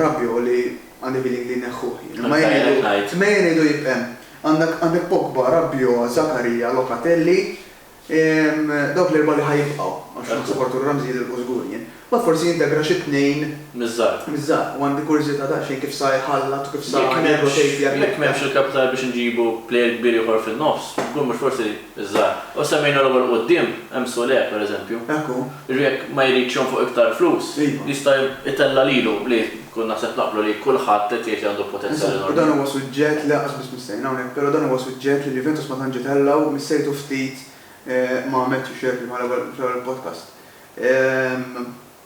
Rabbi hu li għandi feeling li jneħħuh jien. Imma jien ngħidu, imma jien ngħidu jibq' hemm. Għandek, għandek Pogba, Rabiot, Zakaria, Locatelli, dawk l-erbgħa li ħa jibqgħu, għax naħseb Arturo Ramsey jidhilqu żgur jien. Mbagħad forsi jintegra xi tnejn. Miż-żgħar. Miż-żgħar. U għandi kurżità daqsxejn kif sa jħallat u kif sa jirrotejt. Jekk m'hemmx il-kapital biex inġibu plejer kbir ieħor fin-nofs, żgur mhux forsi Iż-żgħar. U semmejna logħba 'l quddiem, hemm Sule, per eżempju. Hekk hu. Jiġifieri jekk ma jridx jonfoq iktar flus, jista' jtella' lilu, li konna naħseb naqblu li kulħadd qed jgħid li għandu potenzjal enormi. Eżatt, u dan huwa suġġett li lanqas biss missejna hawnhekk, però dan huwa suġġett li l-Juventus ma tantx itella' u missejtu ftit ma' Matthew Shirky fl-ewwel podcast.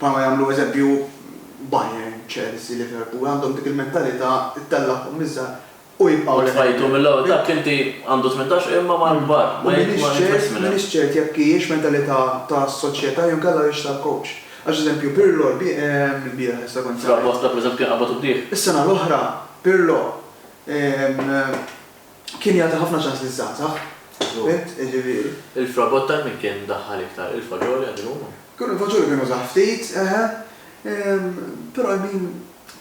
Bħalma jagħmlu eżempju Bayern, Chelsea, Liverpool, għandhom dik il-mentalità ttellagħhom miż-żgħar u jibqgħu leħen. U tfajtu mill-ewwel dak inti għandu tmintax imma mal-kbar ma jitmiss minn hemm. U m'iniex ċert jekk hijiex mentalità ta' soċjetà jew inkella hijiex tal-kowċ. Għax eżempju Pirlo lbieraħ issa kont semmejt. Fragosta pereżempju kien qabad u bdieh. Is-sena l-oħra Pirlo. Kien jagħti ħafna ċans liż-żgħażagħ, bint, jiġifieri. Il-fragott ta' min kien daħħal iktar, il-faġoli għad illum? Kienu l-faġoli kienu żgħar ftit, eħe. Però I mean,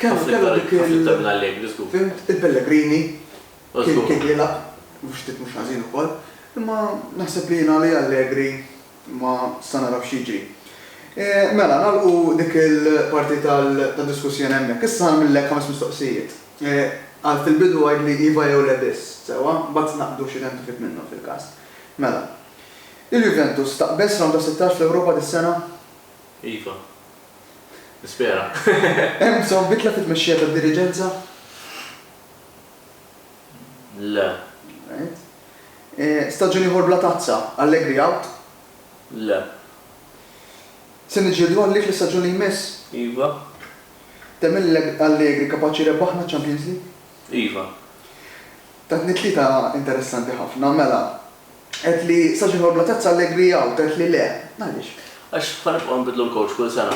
kellu dik il-. Ħafna iktar, ħafna iktar minn Allegri żgur. Fhimt, il-Pellegrini kien jilgħab, mhux ftit mhux ħażin ukoll. Imma naħseb li jien għalija Allegri. Ma sa naraw x'jiġri. Mela, nagħlqu dik il-parti tad-diskussjoni hemmhekk. Issa ngħamillek ħames mistoqsijiet. Għal fil-bidu għidli iva jew le biss, sewwa? Mbagħad naqbdu x'identifik minnhom fil-każ. Mela. Il-Juventus taqbeż Round ta' Sittax fl-Ewropa dis-sena? Iva. Nispera. Hemm bżonn bidla fit-tmexxija tad-diriġenza? Le. Right. Staġun ieħor bla tazza, Allegri out? Le. Se niġġieldu għalik l-istaġun li jmiss? Iva. Temmen li Allegri kapaċi jrebbaħna ċ-Champions League? Iva. Tatni tlieta interessanti ħafna. Mela, għedt li staġun ieħor bla tazza, Allegri out, għedt li le. Għaliex? Għax ħa nibqgħu nbiddlu l-coach kull sena.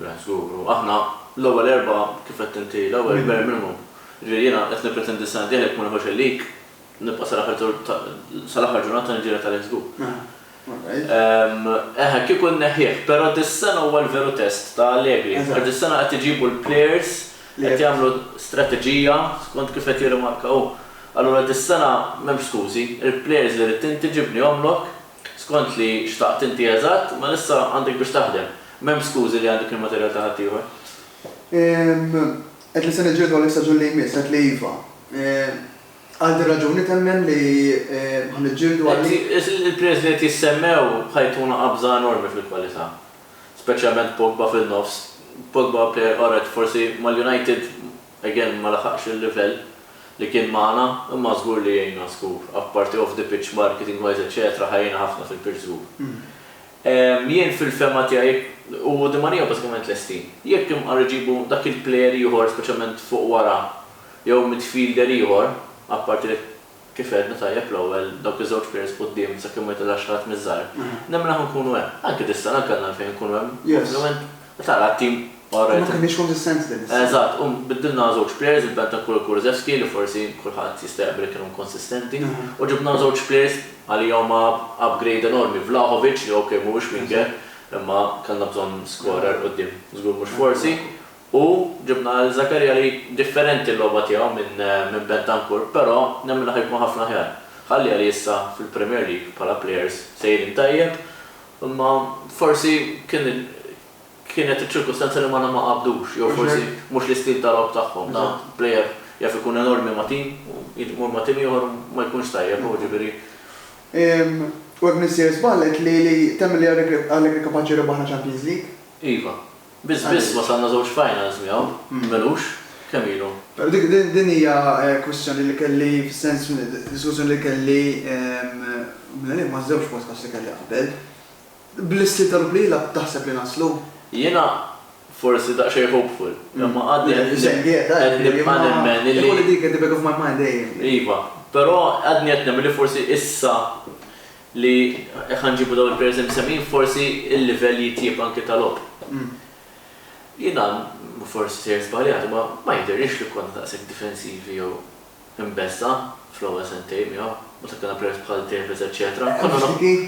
Right, żgur. U aħna, l-ewwel erbgħa, kif għedt inti, l-ewwel kbir minnhom. Jiġifieri jiena qed nippretendi s-sena d-dieħla jekk ma nieħux il-league, nibqa' sal-aħħar tur ta', sal-aħħar ġurnata ta' nġiegħel tal-ex group. Eħe, eħe, kieku nneħħih, però dis-sena huwa l-veru test ta' Allegri. Għax dis-sena qed iġibu l-players, qed jagħmlu strateġija skont kif qed jirrimarka hu. Allura dis-sena m'hemmx skużi, il-players li ridt inti ġibnihomlok. Skont li xtaqt inti eżatt, mela issa għandek biex taħdem. M'hemmx skużi li għandek il-materjal ta' ħaddieħor. Ehm, għedt li se niġġieldu għalih staġun li jmiss, għedt li iva. Ehm, għal din raġuni temmen li ħa niġġieldu għalih? Il-players li qed jissemmew ħa jtuna qabża enormi fil-kwalità. Speċjalment Pogba fin-nofs. Pogba player qorret, forsi mal-United Again ma laħaqx il-livell li kien magħna imma żgur li jgħinna żgur. Apparti off the pitch marketing wise etc ħa jgħinna ħafna fil-pitch żgur. Jien fil-fehma tiegħi u Di Maria bażikament lesti. Jekk imqar iġibu dak il-player ieħor speċjalment fuq wara jew midfielder ieħor apparti li Kif għedna tajjeb l-ewwel, dawk iż-żewġ players quddiem sakemm ma jitellgħax xi ħadd miż-żgħar, nemmen aħna nkunu hemm. Anke dis-sena anke għandna għalfejn nkunu hemm. Ovvjament, tara t-tim all right. Ma kenniex konsistenti din is-sena. Eżatt, u biddilna żewġ players, il-Bentancur u Kurzewski li forsi kulħadd jista' jaqbel li kienu inkonsistenti, u ġibna żewġ players għalija huma upgrade enormi, Vlahovic li ok mhuwiex winger, imma kellna bżonn scorer quddiem, żgur mhux forsi, U ġibna lil Zakaria li differenti l-logħba tiegħu minn Bentancur, però nemmen li ħa jkun ħafna aħjar. Ħalliha li issa fil-Premier League bħala players sejrin tajjeb, imma forsi kien kienet iċ-ċirkustanza li magħna ma qabdux jew forsi mhux l-istil ta' logħob tagħhom. Ta' player jaf ikun enormi ma' tim u jmur ma' tim ieħor u ma jkunx tajjeb u ġifieri. U hekk missier żball qed li li temmen li Allegri kapaċi jirbaħna Champions League? Iva. Biss biss wasalna żewġ finals miegħu, m'ilux. Kemm ilu? Però dik din hija kwistjoni li kelli fis-sens diskussjoni li kelli mill-għalih maż-żewġ podcasts li kelli qabel. Bl-istil ta' Rupp li jilgħab taħseb li naslu? Jiena forsi daqsxejn hopeful, imma għadni qed nibqa' nemmen li. Ikolli dik at the back of my mind dejjem. Iva, però għadni qed nemmen li forsi issa li jekk ħa nġibu dawn il-players imsemmin forsi il-livell jitjieb anki ta' logħob. Jiena forsi sejjer żbaljat imma ma jidhirlix li konna daqshekk difensivi jew imbeżżgħa fl-ewwel sentejn miegħu meta kellna players bħal Tevez eċċetera.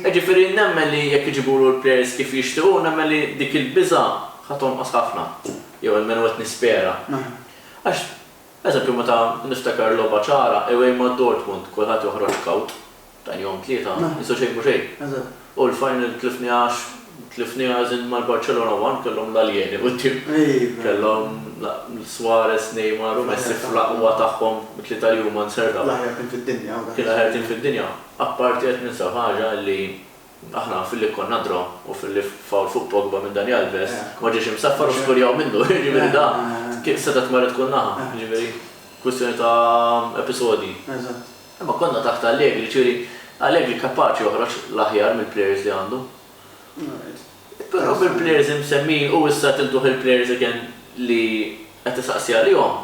Jiġifieri nemmen li jekk iġibulu l-players kif jixtiequ nemmen li dik il-biża' ħa tonqos ħafna jew almenu qed nispera. Għax, eżempju meta niftakar logħba ċara away ma' Dortmund kulħadd joħroġ kawt Dan jom tlieta, issa xejn m'hu xejn. U l-final tlifniha għax tlifniha as in mal-Barcelona one kellhom l-aljeni quddiem. Kellhom Suarez, Neymar u Messi fl-aqwa tagħhom it-tlieta li huma nserdaw. L-aħjar tim fid-dinja. Kien l-aħjar tim fid-dinja. Apparti qed ninsab ħaġa li aħna filli konna draw u filli foul fuq Pogba minn Dani Alves ma ġiex imsaffar u skurjaw minnu. Jiġifieri da setgħet marret kull naħa. Jiġifieri kwistjoni ta' episodji. Imma konna taħt Allegri, jiġifieri Allegri kapaċi joħroġ l-aħjar mill-plejers li għandu. Però bil-plejers imsemmin u issa tiltuh il-plejers again li qed isaqsi għalihom,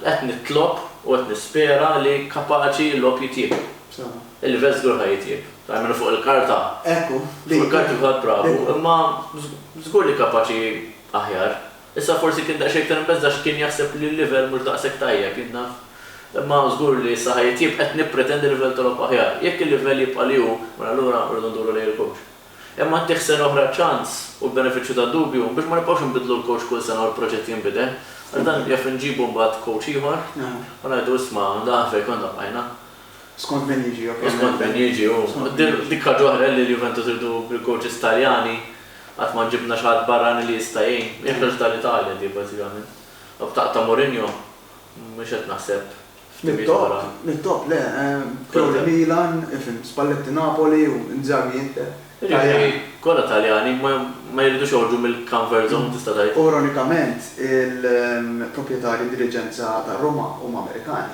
qed nitlob u qed nispera li kapaċi l-logħob jitjieb. Il-livell żgur ħa jitjieb. Almenu fuq il-karta. Fuq il-karta kulħadd bravu, imma żgur li kapaċi aħjar. Issa forsi kien daqsxejn iktar imbeżża' għax kien jaħseb li l-livell mhux daqshekk tajjeb, jien naf. Imma żgur li issa ħa jitjieb, qed nippretendi livell ta' logħob aħjar. Jekk il-livell jibqa' li hu, mela allura rridu nduru lejn il-coach. Imma ttih sena oħra ċans u l-benefiċċju tad-dubju biex ma nibqgħux inbiddlu l-coach kull sena u l-proġett jinbidel. Għax dan jaf inġibu mbagħad coach ieħor u ngħidu isma' dan fejn konna bqajna. Skont min jiġi ovvjament. U skont min jiġi, u dik ħaġa oħra li l-Juventus iridu bil-kowċis Taljani, qatt ma ġibna xi ħadd barrani li jista' jgħin. Hija ħaġa tal-Italja di bażikament. B'taqgħa ta' Mourinho mhux qed naħseb f'timijiet oħra. Mit-top, le. Pioli Milan, fhimt, Spalletti Napoli u Inzaghi Inter. Jiġifieri kollha Taljani, ma jridux joħorġu mill-comfort zone tista' tgħid. U ironikament il-proprjetarji, diriġenza ta' Roma huma Amerikani.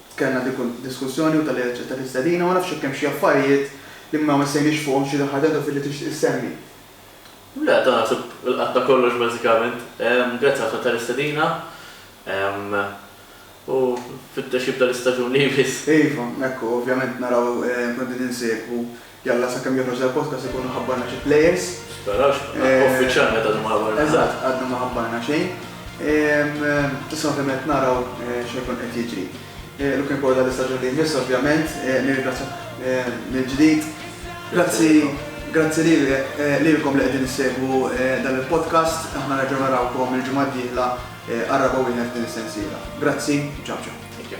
Kellna dik id-diskussjoni u talli aċċettat l-istedina, ma nafx jekk hemm xi affarijiet li ma missejniex fuqhom xi ħaġa għadha fil-li tixtieq issemmi. Le, dan naħseb ilqatna kollox bażikament. Grazzi ħafna tal-istedina u nfittex jibda l-istaġun li jmiss. Iva, hekk hu, ovvjament naraw, nkunu qegħdin insegwu. Jalla sakemm joħroġ dal-podcast ikunu ħabbarna xi players. Tisperax, uffiċjalment għadhom ma ħabbarna xejn. Eżatt, għadhom ma ħabbarna xejn. Issa ovvjament naraw xi jkun qed jiġri. Looking forward għall-istaġun li jmiss ovvjament, nirringrazzjak mill-ġdid. Grazzi, grazzi lilkom li qegħdin issegwu dan il-podcast. Aħna nerġgħu narawkom il-ġimgħa d-dieħla għar-raba' wieħed f'din is-sensiela. Grazzi u ciao ciao. Thank you.